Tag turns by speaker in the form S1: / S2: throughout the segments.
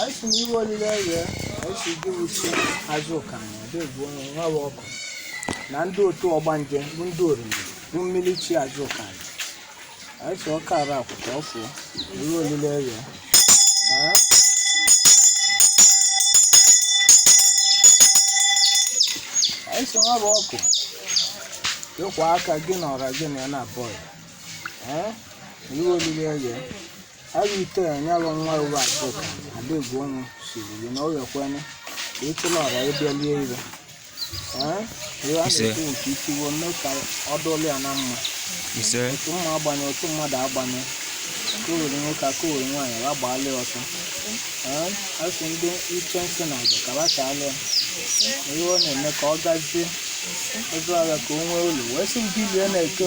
S1: anyị si n'iwe olile rie anyị si gị wu chi Azụka anyị ọdị egbu onye Nwabuọkụ na ndị otu ọgbanje bụ ndị oriri bụ mmiri chi Azụka anyị anyị si ọka ara akwụkwọ ọfụ iwe olile rie anyị si Nwabuọkụ ịkwa aka gị na ọra gị na ya na-abụ ọyị ee iwe olile rie Agha ite ya nyalụ nwa ụwa Azụka adịgwu ọnwụ siri gị na ọ ghekwanụ ka ịtụla ọra ịbịa lie ire Ee, ihe a Ise. na-ekwu nke itiwo mee ka ọ dụlụ ya na mma ise otu mma agbanye otu mmadụ agbanye ka o were nwoke aka o were nwaanyị ya gbaala ya ọsọ Ee, a sị ndị ichie nsị na aja ka ha chaala ya ihe ọ na-eme ka ọ gazie ego agha ka o nwee ụlọ wee sị ndị lie na-eke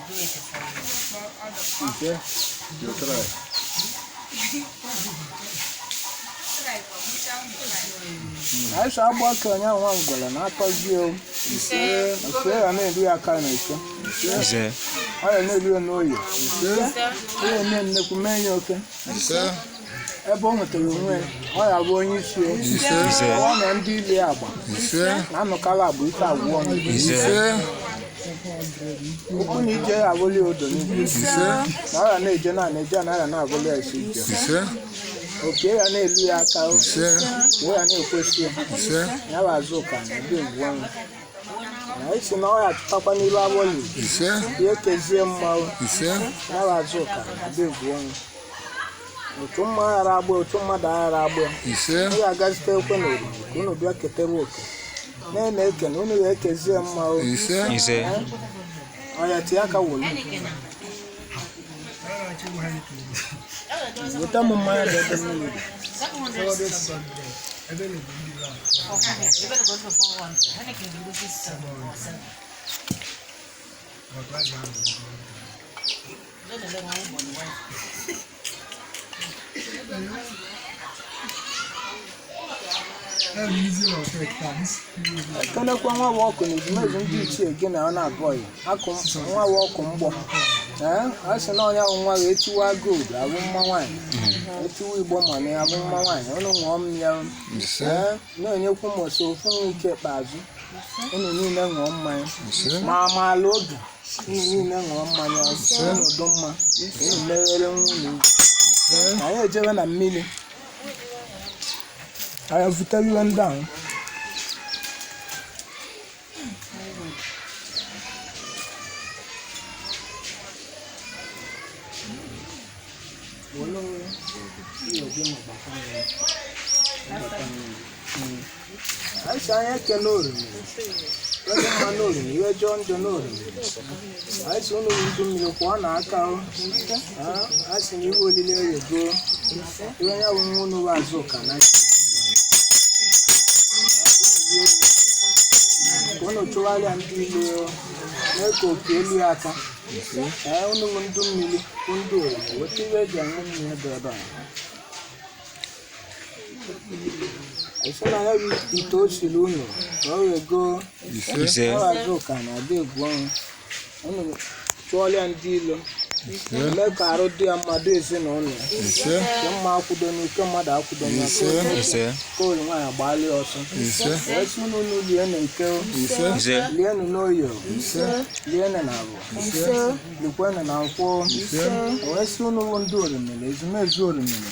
S1: Idzie? Jutraj. Ise agba aka onye ahụ nwa ngwere na akọzie o. Ise. Ise ya na-eri ya aka na ike. Ise. Ọ ya na-eri ya n'oyi. Ise. Ọ ya eme nnekwu mee ya oke. Ise. ebe ọ nwetara onwe ya, ọ ya bụ onye isi o. Ise. ọ na ndị ile ya agba ise na anụkala agba ike agwụọ m. ise ụkwụ na ije ya abụli odo n'ugwu ise na ọ ya na-eje naanị eje na ya na-abụli ya isi ije ise oke ya na-elu ya aka o ise o ya na-ekwesị ya ise ya bụ Azụka na ndị egwu ọnwụ na isi na ọ ya atụtakwa n'ilu abụli ise ya ekezie mma o ise ya bụ Azụka na ndị egwu ọnwụ otu mma aghara agba otu mmadụ aghara agba ya ise unu ga-agazite ekwe na oriri ka unu bịa ketewe oke na-eme eke na unu ga-ekezie mma o ise ise ọya tie aka wolu weta m mmanya dị ebe mmiri dị. Thank you. ekenekwa Nwabuọkụ na ezumezu ndị ichie gị na ya na-abụ ọyị akụ Nwabuọkụ mgbọ ee a sị na ọ ya bụ nwaanyị etiwa ọgọdọ abụ mma nwaanyị etiwa igbo mana ya bụ mma nwaanyị ụnụ ṅụọ mmanya ee na-enyekwu m ọsọ ofu nwa nke ikpeazụ ụnụ niile ṅụọ mmanya ma amaala obi unu niile ṅụọ mmanya soro n'udo mma unu meghere nwa unu ugwu anyị ejebe na mmiri anyị vutere iwe ndị ahụ anyị si anya eke n'oriri onye mma n'oriri ihe jọọ njọ n'oriri anyị si unu ndị mmiri kwụọ na aka o Ah, a sị na iwe olile eye goo ihe onye bụ nwa unu Azụka na ka unu chụgharịa ndị ilo o, mee ka oke elue ya aka ee unu bụ ndị mmiri bụ ndị orimiri weta iwe eji aṅụ mmiri ebe ebe a a sị na ya bụ ite o siri unu ka ọ wee goo ise Azụka nwa ada Egwuọnwụ unu chụọla ya ndị ilo mee ka arụ dị ya mma dụ ezinụlọ ya ise nke mmụọ akwụdo nke mmadụ akwụdo na ise ise koolu nwaanyị agbaala ya ọsọ ise wee si unu unu lienụ n'eke o, ise ise lienụ n'oye ise lienụ n'avọ likwenụ na nkwọ o. wee si unu bụ ndị orimiri ezumezu orimiri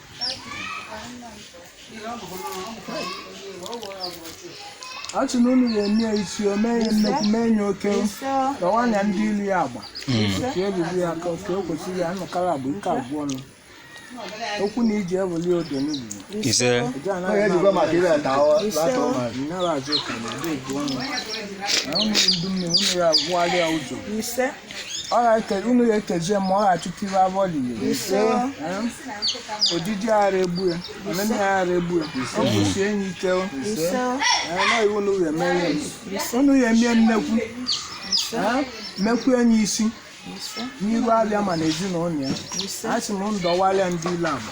S1: a sị na unu ga-eme ya isi o mee ya nnekwu mee ya oke nwaanyị ndị ilo ya agba ka ebibi ya ka ka o kwesịrị ya anụkara agba ike abụọ ọnụ okwu na ije ebuli odo n'ugwu ise eji anaghị na Azụka nwa ada Egwuọnwụ na unu ndị mmiri unu ya agwụgharịa ụzọ ọ ga-eke unu ga-ekezi ya mma ọ ga-achụta iwe abụọ lili ojiji ara egbu ya ọnene ya ara egbu ya ọ bụsi enyi ike o. Ee, na ọ wụ unu ga-eme ya unu ga-eme ya nnekwu Ee, mekwue ya isi n'iru abịa ma na ezinụlọ ya a sị m ndọwalịa ndị ilo abụ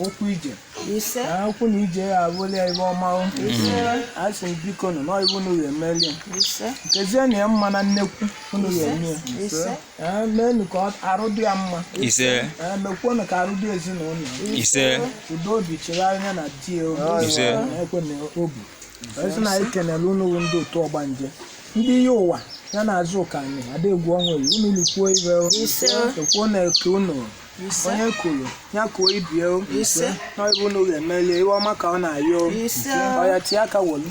S1: okwu ije ise na okwu na ije ya abụlụ ya iwe ọma o. a sị m biko nụ na ọ bụ unu ga-emeli ya ise kezienụ ya mma na nnekwu unu ga-eme ya ise Ee, meenụ ka ọ- arụ dị ya mma ise Ee, mekwuonụ ka arụ dị ezinụlọ ise udo obi chegharị ya na di ya obi Ise. ekwe na obi a sị na anyị kenere unu bụ ndị otu ọgbanje ndị iyi ụwa ya na Azụka anyị ada Egwuọnwụ unu likwuo ibe ekwuo na eke unu ise onye kwuru ya kwuo ibe ya o ise na ọ bụ unu ga-emeli iwe ọma ka ọ na-ayọ o ise ọya tie aka wolu